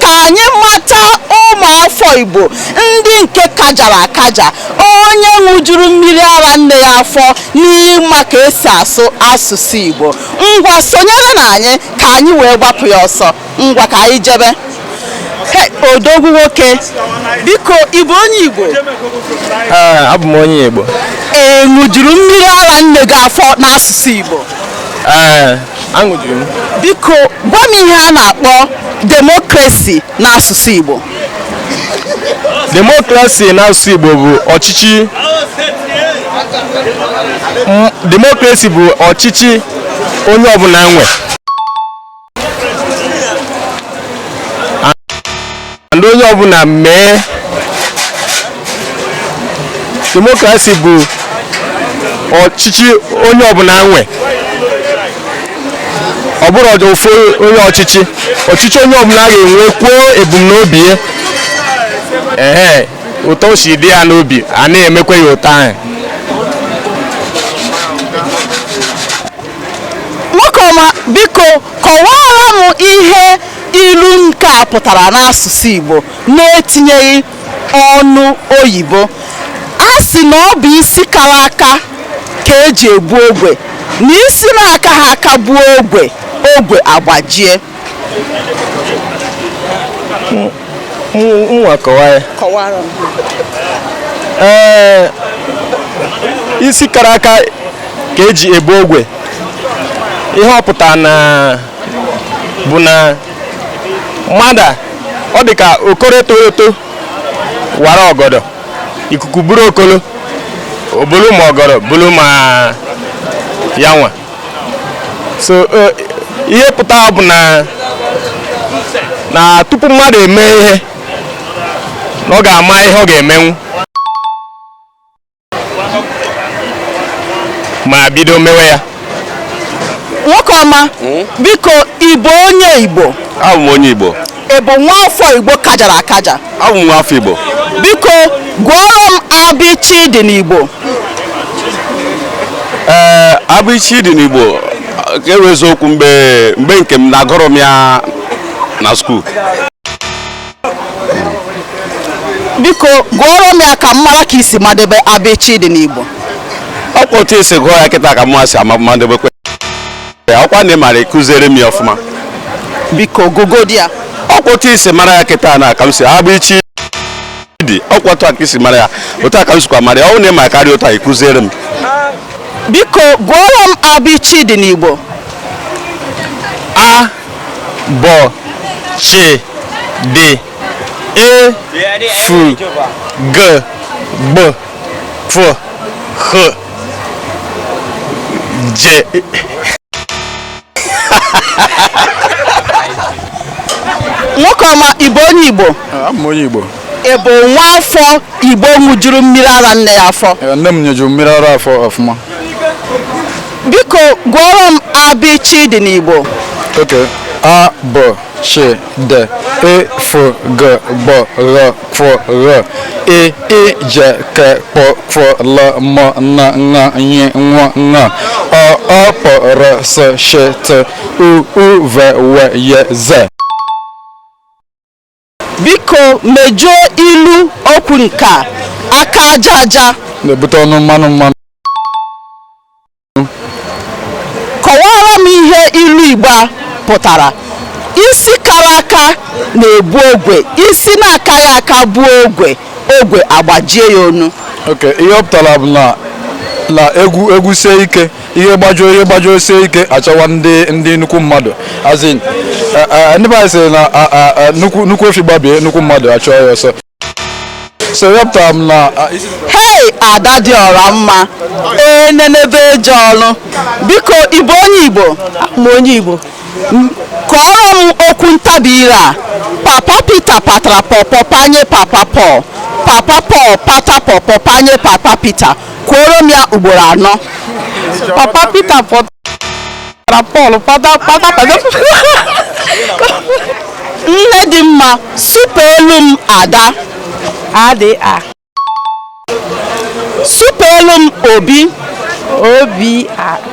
ka anyị mata ụmụafọ Igbo ndị nke kajara akaja onye ṅụjuru mmiri ara nne ya afọ n'ịma ka esi asụ asụsụ Igbo ngwa sonyere na anyị ka anyị wee gbapụ ya ọsọ ngwa ka anyị jebe odogwu nwoke biko ị bụ onye Igbo abụ m onye Igbo ị ṅụjuru mmiri ara nne gị afọ n'asụsụ Igbo aṅụjuru m biko gwa m ihe a na-akpọ demokrasi n'asụsụ Igbo demokrasi n'asụsụ Igbo bụ ọchịchị demokrasi bụ ọchịchị onye ọbụla nwe ndị onye ọbụla mee demokrasi bụ ọchịchị onye ọbụla nwe ọ bụrọ ofu onye ọchịchị ọchịchị onye ọbụla ga-enwe kwuo ebumnobi ya ee otu o si dị ya n'obi a na-emekwa ya otu ahụ nwoke ọma biko kọwaara m ihe Ilu nke a pụtara n'asụsụ Igbo na-etinyeghị ọnụ oyibo. A sị na ọ bụ isi kara aka ka e ji ebu ogwe, na isi na-akaghị aka buo ogwe, ogwe agbajie. Ngwa kọwa ya. Ee, isi kara aka ka eji ebu ogwe. Ihe ọ pụtara na bụ na mmadụ ọ dị ka okoro etoro eto wara ọgọdọ ikuku buru okolo o bulu ma ọgọdọ bulu ma ya nwa so e, ihe pụta bụ na na tupu mmadụ eme ihe na ọ ga-ama ihe ọ ga-emenwu ma bido mewe ya nwoke ọma hmm? biko ị bụ onye igbo abụ m onye igbo ị bụ nwa afọ igbo kajara akaja abụ m nwa afọ igbo biko gụọrọ m abịchị dị n'igbo ee abịchị dị n'igbo ka e kwuo eziokwu mgbe nke m na agụrọ m ya na skuul biko gụọrọ m ya ka m mara ka i si madebe abịchị dị n'igbo ọkwa otu i si gụọ ya kịta ka mụwa si madebekwe ọkwa na ị mara ị kụziere m ya ọfụma biko gụgodi ya ọkwa otu i si mara ya kịta na ka m si abịchị dị ọkwa otu a ka i si mara ya otu a ka m sikwa mara ya ọ na ị ma karịa otu a ị kụziere m biko gụọrọ m abịchị dị n'igbo a bọ che de e fu ge gb f h je nwoke ọma ị bụ onye Igbo Abụ m onye Igbo. Ị bụ nwa afọ Igbo ṅụjuru mmiri ara nne ya afọ? Ee, nne m nyejuru m mmiri ara afọ ọfụma. Biko gụọrọ m abịchịdị n'Igbo. Okay. A bọ chi de e fụ gụ gbọ ghọ kwụ ghọ e i je ke kpọ kwụ lọ mọ na ṅa nyi nwọ ṅa o ọ pọ rọ sọ shi tụ u u ve we ye ze. Biko mejuo ilu okwu nke a, aka aja aja. Na-ebute ọnụ mmanụ mmanụ. Kọwaara m ihe ilu Igbo a pụtara. Isi kara aka na-ebu ogwe, isi na-akaghị aka buo ogwe, ogwe agbajie ya onu. Ok, ihe ọ pụtara bụ na na egwu egwu sie ike. ihe gbajuo ihe gbajuo sie ike a chọwa ndị ndị nnukwu mmadụ as in eh, eh, ndị be anyị sịrị na ah, ah, ah, nnukwu nnukwu efi gbabie nnukwu mmadụ achụọ ya ọsọ so ihe ọ pụtara bụ na ah, isi- hei ada dị ọra mma enenebe eje ọrụ biko ị bụ onye Igbo m bụ onye Igbo kwuoro m okwu ntabi ire a papa Peter patara pọpọ panye papa Paul papa Paul pata pọpọ panye papa Peter kwuoro m ya ugboro anọ papa Peter patara Paul pata pata pata nne dị mma supeelu m Ada a dị a supeelu m Obi o bị i